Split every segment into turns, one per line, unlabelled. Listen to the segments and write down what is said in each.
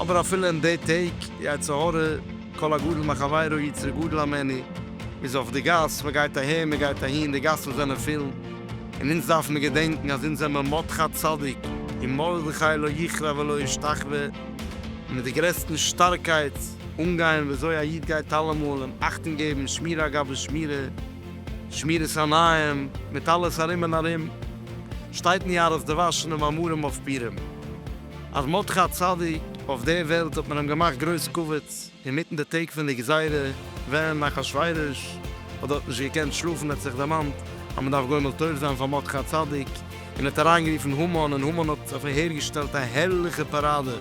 אבער אפילו אין די טעג יצא הרע כל הגדול מחבירו יצרי גדול המעני איז אויף די גאס, מען גייט אהער מען גייט אהין, די גאסן זענען פיל, און אונז דארף מיר געדענקן אז אונז זעמער מרדכי צדיק און מרדכי לא יכרע ולא ישתחווה, און מיט די גרעסטן שטארקייט אנגיין וויאזוי א איד גייט אלעמאל און אכטונג געבן שמירה גבי שמירה שמירת עיניים מיט אלעס ארום און ארום שטייט ניאר אז די וואשן און מאמרים אויף פירם. אז מ'האט דאך א צדיק אויף די וועלט האט מען אים געמאכט גרויס כבוד אינמיטן די טעג פון די גזירה ווען אחשורוש האט דארט נישט געקענט שלאפן האט זיך דערמאנט אז מ'דארף גומל טוב זיין פאר מרדכי צדיק און האט אריינגערופן המן און המן האט אויף אהערגעשטעלט א הערליכע פאראדע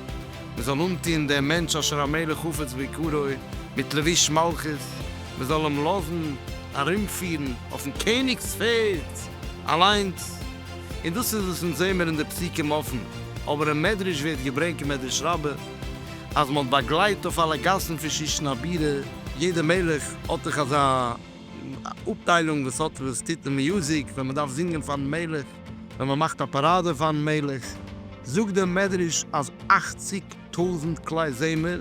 מ'זאל אנטוהן דעם מענטש אשר המלך חפץ ביקורו מיט לבוש מלכות מ'זאל אים לאזן ארומפירן אויפן קעניג'ס פערד אליינס. און דאס איז וואס אונז זעהן מיר אין די פסוקים אפן, אבער אין מדרש ווערט געברענגט אין מדרש רבה אז מען האט באגלייט אויף אלע גאסן פון שושן הבירה, יעדע מלך האט דאך אזא אפטיילונג וואס האט וואס טוט אין מיוזיק ווען מען דארף זינגען פארן מלך, ווען מען מאכט א פאראדע פארן מלך, זאגט דער מדרש אז אכציג טויזנט כלי זמר.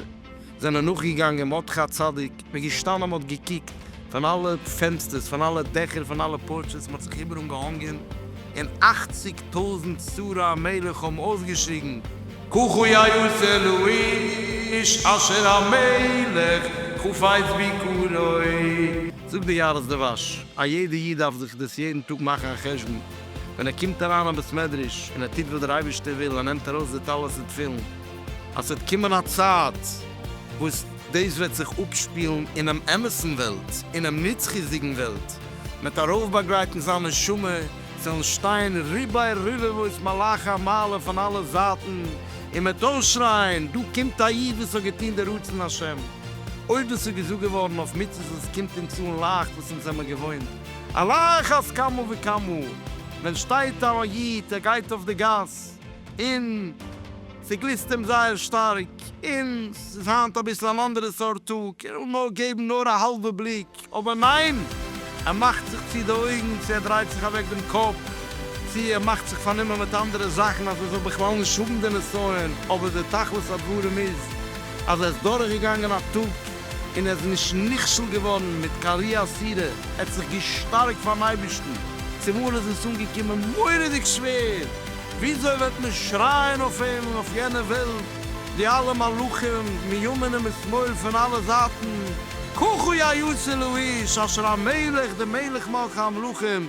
זענען נאכגעגאנגען מרדכי הצדיק, מען איז געשטאנען מען האט געקוקט פון אלע פענסטערס פון אלע דעכער פון אלע פארטשעס מען האט זיך איבעראל געהאנגען און אכציג טויזנט שרי המלך האבן אויסגעשריגן כחו יעש אלוהיש אשר המלך חפץ ביקרו. זאגט דער יהרץ דבש, א יעדע איד דארף זיך דאס יעדן טאג מאכן א חשבון ווען ער קומט אריין אין בית מדרש און ער טוט וואס דער אייבערשטער וויל ער נעמט ארויס די טלית ותפילין, אז ס'וועט קומען א צייט וואס דאס וועט זיך אפשפילן אינעם אמת'ן וועלט, אינעם נצחיות'דיגן וועלט, מ'וועט ארויפבאגרייטן זיין נשמה, ס'וועלן שטיין רבעי רבבות מלאכי המעלה פון אלע זייטן, און מ'וועט אויסשרייען, דא קומט א איד וואס האט געטון די רצון השם! אויב דאס איז געזאגט געווארן אויף מצוות וואס קומט אונז אן לייכט, וואס אונז זעמער געוואוינט על אחת כמה וכמה, ווען שטייט א איד, ער גייט אויף די גאס, און ס'גליסט אים זייער שטארק, און ס'איז היינט אביסל אן אנדערע סארט טאג, ער וויל נאר געבן נאר א האלבע בליק, אבער ניין! ער מאכט זיך צו די אויגן, צו ער דרייט זיך אוועק דעם קאפ, צו ער מאכט זיך פארנומען מיט אנדערע זאכן אז ער זאל בכלל נישט האבן די נסיון, אבער די תכלית הדברים איז אז ער איז דורכגעגאנגען א טאג, און ער איז נישט נכשל געווארן מיט קיין רי עשירה, ער האט זיך געשטארקט פארן אייבערשטן, צומאל איז עס אנגעקומען מורא'דיג שווער, וויאזוי וועט מען שרייען אויף אים און אויף יענע וועלט, די אלע מלאכים מימין ומשמאל פון אלע זייטן, כחו יא יאסעלע איש אשר המלך דער מלך מלכי המלכים,